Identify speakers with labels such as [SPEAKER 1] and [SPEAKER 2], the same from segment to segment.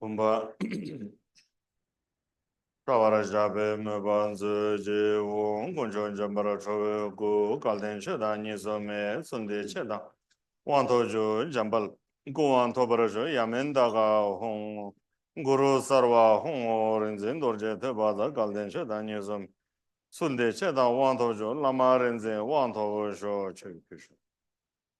[SPEAKER 1] བུམ་པ། སྐྲ་བར་བཞག་པའི་དམོད་པ་མཛོད་ཅིག་འོང་དཀོན་མཆོག་འཇམ་པར་ཁྲོ་བོའི་སྐུ་བཀའ་ལྡན་ཆོས་བདག་ཉིད་སོ་མའི་གསུང་བདེ་ཆེན་དང་དབང་ཐོབ་རྒྱུ་འཇམ་དཔལ་སྐུ་དབང་ཐོབ་པར་ཞུ་ཡ་མན་ད་ཀ་ཧཱུྃ། གུ་རུ་སར་བ་ཧཱུྃ་ཧོ་རིག་འཛིན་རྡོ་རྗེ་ཐོད་པ་བདག་བཀའ་ལྡན་ཆོས་བདག་ཉིད་སོ་མའི་གསུང་བདེ་ཆེན་དང་དབང་ཐོབ་རྒྱུ་བླ་མ་རིག་འཛིན་དབང་ཐོབ་ཤོག་ཆོས་ཀྱི་གཞུང།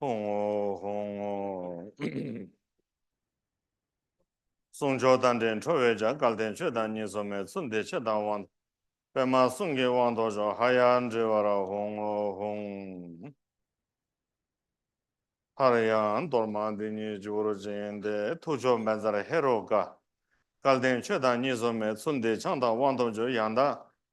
[SPEAKER 1] ཧོང་ངོ་ཧོང་ངོ། གསུང་མཆོག་རྟ་མགྲིན་ཁྲོ་བོའི་ལྗགས་བཀལ་བསྟན་བཅོས་དང་གཉིས་སོ་མའི་ཚུལ་འདི་ཕྱི་དང་དབང། པདྨ་གསུང་གི་དབང་རྟོགས་ཕྱོགས་ཧ་ཡ་འདྲིལ་བ་ར་ཧོང་ངོ་ཧོང། ཧར་ཡང་གཏོར་མ་འདི་ཉིད་སྤྱི་བོར་བཅིངས་ཏེ་ཐུགས་མཆོག་སྨན་རྩར་ཧེ་རུ་ཀ། བཀལ་བསྟན་བཅོས་དང་གཉིས་སོ་མའི་ཚུལ་འདི་འཆང་དང་དབང་རྟོགས་མཆོད་ཡང་དག་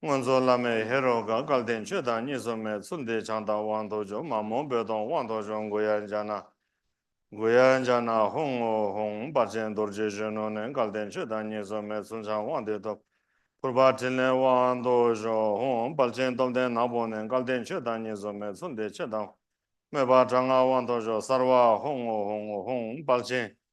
[SPEAKER 1] སྔོན་གཙོ་བླ་མའི་ཧེ་རུ་ཀ་སྐལ་ལྡན་ཆོས་དང་གཉིས་སུ་མེད་ཚུལ་འདི་བྱང་བདག་དབང་དུ་འཇུག་མ་མོ་རྦོད་གཏོང་དབང་དུ་འཇུག་མགུ་ཡ་འཇ་ན་མགུ་ཡ་འཇ་ན་ཧཱུྃ་ཧཱུྃ་ཧཱུྃ་འབར་ཆེན་རྡོ་རྗེ་གཞོན་ནུ་ནས་སྐལ་ལྡན་ཆོས་དང་གཉིས་སུ་མེད་ཚུལ་འཆང་དབང་འདི་ཐོབ། ཕུར་པ་ཕྲིན་ལས་དབང་དུ་བཞུགས་ཧཱུྃ་འབར་ཆེན་སྟོབས་ལྡན་ནག་པོ་ནས་སྐལ་ལྡན་ཆོས་དང་གཉིས་སུ་མེད་ཚུལ་འདི་ཕྱེད་དང། དམོད་པ་དྲག་སྔགས་དབང་དུ་བཞུགས་གསར་བ་ཧཱུྃ་ཧཱུྃ་ཧཱུྃ་འབར་ཆེན།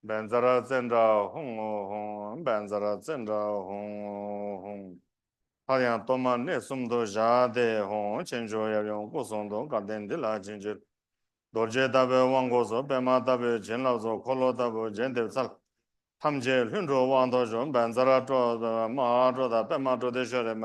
[SPEAKER 1] སྦན་ཛ་ར་ཙན་དྲ་ཧུང་ངོ་ཧུང་སྦན་ཛ་ར་ཙན་དྲ་ཧུང་ངོ་ཧུང། སླར་ཡང་གཏོར་མ་གནས་གསུམ་དུ་བཞག་སྟེ་ཧོང་ཆེན་མཆོག་ཡབ་ཡུམ་སྐུ་གསུང་ཐུགས་ཀ་རྟེན་འདི་ལ་བྱིན་གྱིས་རྡོ་རྗེ་ལྟ་བུའི་དབང་བསྐུར་སོགས་པད་མ་ལྟ་བུའི་བྱིན་རླབས་སོགས་འཁོར་ལོ་ལྟ་བུ་རྒྱས་འདེབས་ཚར། ཐམས་ཅད་ལྷུན་གྲུབ་དབང་ཐོབ་ཤོག་སྦན་ཛ་ར་ཀྲོ་དང་པདྨ་ཀྲོ་དང་པདྨ་ཀྲོ་ཏི་ཤོ་རེ་མ།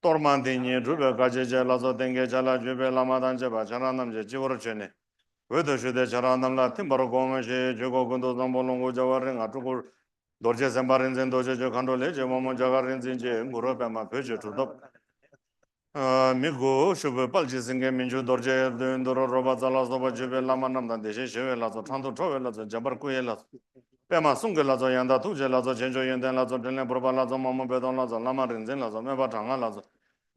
[SPEAKER 1] གཏོར་མ་འདི་ཉིད་སྒྲུབ་པའི་བཀའ་ཅི་བྱས་ལ་སོགས་རྟེན་བསྐལ་བྱ་ལ་བརྒྱུད་པའི་བླ་མ་དང་བཅས་པ་ཆང་རག་རྣམས་ཀྱི་སྤྱི་བོར་མཆོད་ནས། འོད་དུ་ཞུ་སྟེ་ཆང་རག་རྣམས་ལ་ཐིམ་པར་བསྒོམ་མོ་ཞེས་བརྗོད་གོ་ཀུན་ཏུ་བཟང་པོ་ལོངས་སྐུ་སྦྱོར་བ་རིགས་ལྔ་སྤྲུལ་སྐུ། རྡོ་རྗེ་སེམས་དཔའ་རིག་འཛིན་རྡོ་རྗེ་ཆོས་མཁའ་འགྲོ་ལས་ཀྱི་དབང་མོ་འཇའ་གར་རིག་འཛིན་རྗེ་གུ་རུ་པདྨ་བོད་ཀྱི་གྲུབ་ཐོབ། མི་དགུ་ཤུབ་བུའི་དཔལ་གྱི་སེངྒེ་མི་འགྱུར་རྡོ་རྗེ་བདུད་འདུལ་རོལ་པ་ཙཱ་ལ་སོགས་པ་བརྒྱུད་པའི་བླ་མ་རྣམས་དང་བདེ་གཤེགས་ཞི་བའི་ལྷ་ཚོགས་འཕྲང་དུ་འཕྲོ་བའི་ལྷ་ཚོགས་འཇམ་པར་སྐུ་ཡི་ལྷ་ཚོགས། པདྨ་གསུང་གི་ལྷ་ཚོགས་ཡང་དག་ཐུགས་རྗེའི་ལྷ་ཚོགས་རྗེས་འཇུག་ཡོན་ཏན་ལྷ་ཚོགས་དྲིན་ལན་ཕུར་པ་ལྷ་ཚོགས་མ་མོ་དཔལ་སྟོང་ལྷ་ཚོགས་བླ་མ་རིག་འཛིན་ལྷ་ཚོགས་སྨོན་པ་དྲག་སྔགས་ལྷ་ཚོགས།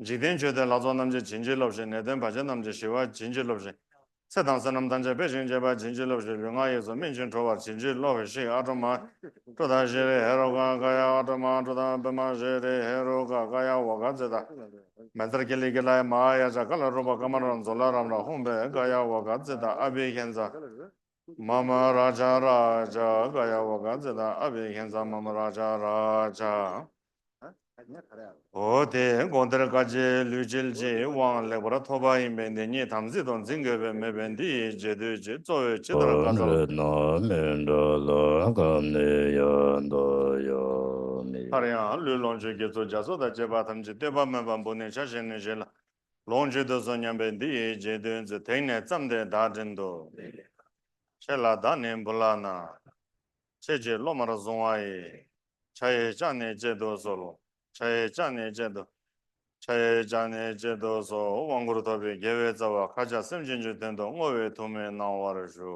[SPEAKER 1] འཇིག་རྟེན་མཆོད་རྟེན་ལྷ་ཚོགས་རྣམ་རྒྱལ་བྱིན་གྱིས་རློབས་ཤིག་ནད་གདོན་བར་ཆད་རྣམས་ཀྱིས་ཞི་བར་བྱིན་གྱིས་རློབས་ཤིག། ཚེ་དང་བསོད་ནམས་ཐམས་ཅད་འཕེལ་ཞིང་རྒྱས་པར་བྱིན་གྱིས་རློབས་ཤིག་ལུས་ངག་ཡིད་གསུམ་སྨིན་ཅིང་གྲོལ་བར་བྱིན་གྱིས་རློབས་ཤིག་ཨ་ཀྲོ་མ། ཀྲུ་དང་ཤེ་རེ་ཧེ་རུ་ཀ་ཀ་ཡ་ཨ་ཀྲོ་མ་ཀྲུ་དང་པདྨ་ཤེ་རེ་ཧེ་རུ་ཀ་ཀ་ཡ་ཝོ་ག་ཙེ་ཏཱ། མན་ཏར་ཀི་ལི་ཀི་ལཱི་མ་ཨ་ཡ་ཅཱ་ཀ་ལ་རུ་པ་ཀ་མ་ར་མཛོ་ལ་རམ་ར་ཧུམ་བེ་ཀ་ཡ་ཝོ་ག་ཙེ་ཏཱ་ཨ་བྷི་ཧེ་ཛ། མཱ་མ་རཱ་ཇཱ་རཱ་ཇཱ་ཀ་ཡ་བ་ཀ་ཛི་ཏཱ་ཨ་བྷི་ཧེན་ཛཱ་མཱ་མ་རཱ་ཇཱ་རཱ་ཇཱ། འོ་དེས་དགོངས་གཏེར་བཀའ་རྗེས་ལུས་ཅིལ་ཅིལ་དབང་ལེགས་པར་ཐོབ་པ་ཡིན་པས་འདི་ཉིད་དམ་ཚིག་ཏུ་འཛིན་དགོས་པས་མོས་པས་འདི་ཡི་རྗེས་ཟློས་ཀྱིས་གཙོ་བོས་ཇི་ལྟར་བཀའ་སྩལ། བོན་རྣམས་མི་འདྲ་ལ་གང་ནས་ཡང་འདའ་ཡ་མེད། སླར་ཡང་ལུས་ལོངས་སྤྱོད་དགེ་ཚོགས་རྒྱ་མཚོ་དང་བཅས་པ་ཐམས་ཅད་བསྟོད་པ་སྨོན་པ་འབུལ་ནས་ཕྱག་བཞེས་ནས་བཞེས་ལ། ལོངས་སྤྱོད་དུ་སོང་སྙམ་པས་འདི་ཡི་རྗེས་བདུན་གྱི་ཐིག་ནས་བརྩམས་ཏེ་བདག་དྲིན་དུ། ཁྱེད་ལ་བདག་ནི་འབུལ་ལགས་ན། ཁྱེད་ཀྱིས་སློབ་མར་བཟུང་བ་ཡི། བྱ་ཡི་ལྕགས་ནི་བཅད་དུ་གསོལ། བྱ་ཡི་ལྕགས་ནི་བཅད་དུ། བྱ་ཡི་ལྕགས་ནི་བཅད་དུ་གསོལ། དབང་བསྐུར་ཐོབ་པའི་དགེ་བའི་རྩ་བ་ཁ་ཆགས་སེམས་ཅན་གྱི་དོན་དུ་བསྔོ་བའི་ཐུགས་སྨོན་གནང་བར་ཞུ།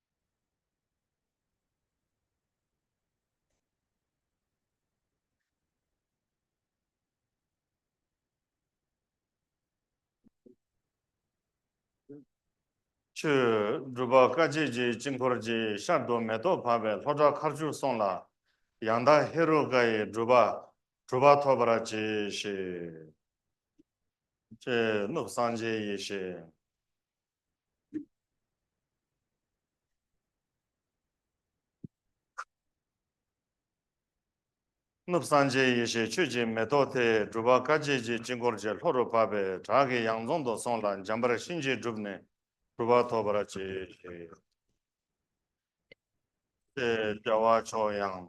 [SPEAKER 1] ཆུ། སྒྲུབ་པ་དཀའ་བྱེད་ཀྱི་དཀྱིལ་འཁོར་གྱི་ཤར་དུ་མེ་ཏོག་བབས་པའི་ལྷོ་བྲག་མཁར་བཅུར་སོང་ལ། ཡང་དག་ཧེ་རུ་ཀ་ཡི་སྒྲུབ་པ་གྲུབ་པ་ཐོབ་པར་གྱིས་ཤིག། ཅེས་གནུབས་སངས་རྒྱས་ཡེ་ཤེས། གནུབས་སངས་རྒྱས་ཡེ་ཤེས་ཆོས་ཀྱི་མེ་ཏོག་དེས་སྒྲུབ་པ་བཀའ་བརྒྱད་ཀྱི་དཀྱིལ་འཁོར་གྱི་ལྷོ་རུ་བབས་པས་བྲག་གི་ཡང་རྫོང་དུ་སོང་ལ་འཇམ་པར་གཤིན་རྗེ་བསྒྲུབས་ནས་གྲུབ་པ་ཐོབ་པར་བྱས། ཞེས་བྱ་བ་མཆོག་ཡང།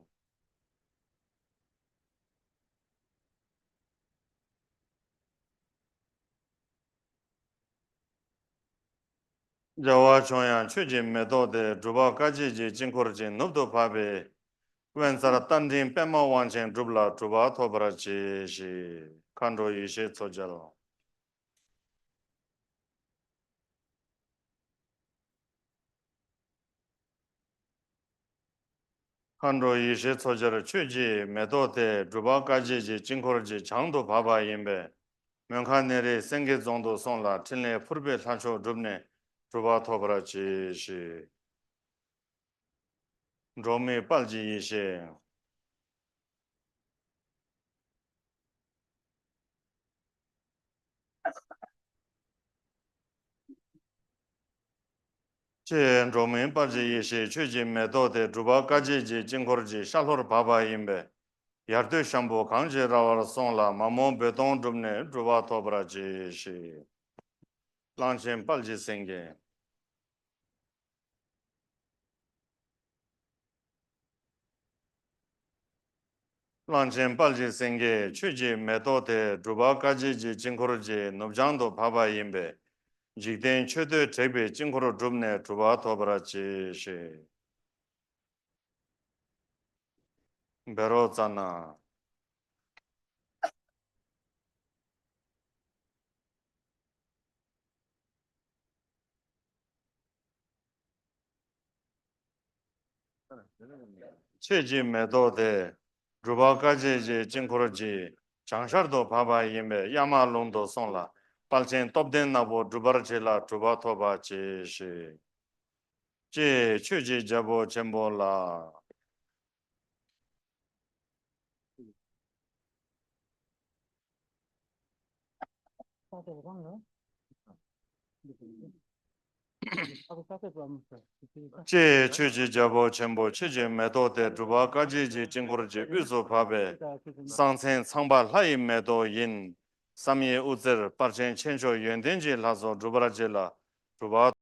[SPEAKER 1] བྱ་བ་མཆོག་ཡང་ཆོས་ཀྱི་མེ་ཏོག་དེ་སྒྲུབ་པ་དཀའ་བྱེད་ཀྱི་དཀྱིལ་འཁོར་གྱི་ནུབ་ཏུ་བབས་པས། དབེན་རྩར་རྟ་མགྲིན་པད་མ་དབང་ཆེན་བསྒྲུབས་ལ་གྲུབ་པ་ཐོབ་པར་གྱིས་ཤིག། མཁའ་འགྲོ་ཡེ་ཤེས་མཚོ་རྒྱལ། མཁའ་འགྲོ་ཡེ་ཤེས་མཚོ་ཆར་ཆོས་ཀྱི་མེ་ཏོག་དེ་སྒྲུབ་པ་དཀའ་སྤྱད་ཀྱི་དཀྱིལ་འཁོར་གྱི་བྱང་དུ་བབས་པ་ཡིན་པས་མོན་ཁ་གནས་རི་སེང་གེ་རྫོང་དུ་སོང་ལ་ཕྲིན་ལས་ཕུར་པའི་ལྷ་མཆོག་བསྒྲུབས་ནས་གྲུབ་པ་ཐོབ་པར་གྱིས་ཤིག། འགྲོ་མིའི་དཔལ་གྱི་ཡེ་ཤེས། ཅེས་འགྲོ་མིའི་དཔལ་གྱི་ཡེ་ཤེས་ཆོས་ཀྱི་མེ་ཏོག་དེ་སྒྲུབ་པ་དཀའ་སྤྱད་ཀྱི་དཀྱིལ་འཁོར་གྱི་ཤར་ལྷོར་བབས་པ་ཡིན་པས། ཡར་སྟོད་ཤམ་བུ་གང་ཅི་ར་བར་སོང་ལ་མ་མོ་རྦོད་གཏོང་བསྒྲུབས་ནས་སྒྲུབ་བ་ཐོབ་པར་གྱིས་ཤིག། གླང་ཆེན་དཔལ་གྱི་སེང་གེ། གླང་ཆེན་དཔལ་གྱི་སེང་གེས་ཆོས་ཀྱི་མེ་ཏོག་དེ་སྒྲུབ་པ་བཀའ་བརྒྱད་ཀྱི་དཀྱིལ་འཁོར་གྱི་ནུབ་བྱང་དུ་བབས་པ་ཡིན་པས་འཇིག་རྟེན་མཆོད་བསྟོད་དྲེགས་པའི་དཀྱིལ་འཁོར་བསྒྲུབས་ནས་གྲུབ་པ་ཐོབ་པར་གྱིས་ཤིག། འབེ་རོག་ཙར་ན། ཆོས་ཀྱི་མེ་ཏོག་དེ། སྒྲུབ་པ་དཀའ་སྤྱད་ཀྱི་དཀྱིལ་འཁོར་གྱི་བྱང་ཤར་དུ་བབས་པ་ཡིན་པས་གཡའ་མ་ལུང་དུ་སོང་ལ་དཔལ་ཆེན་སྟོབས་ལྡན་ནག་པོ་སྒྲུབ་པར་བྱས་ལ་གྲུབ་པ་ཐོབ་པར་གྱིས་ཤིག། ཅེས་མཆོད་ཅིང་རྒྱལ་པོ་ཆེན་པོ་ལ། ཅེས་མཆོད་ཅིང་རྒྱལ་པོ་ཆེན་པོ་མཆོད་ཅིང་མེ་ཏོག་སྟེ་སྒྲུབ་པ་དཀའ་སྤྱད་ཀྱི་དཀྱིལ་འཁོར་གྱི་དབུས་སུ་བབས་པའི་གསང་མཚན་ཚངས་པ་ལྷ་ཡི་མེ་ཏོག་ཡིན། བསམ་ཡས་དབུ་རྩེར་སྤར་ཆེན་ཆེ་མཆོག་ཡོན་ཏན་གྱི་ལྷ་ཚོགས་སྒྲུབ་པར་བགྱི་ལ། སྒྲུབ་པ།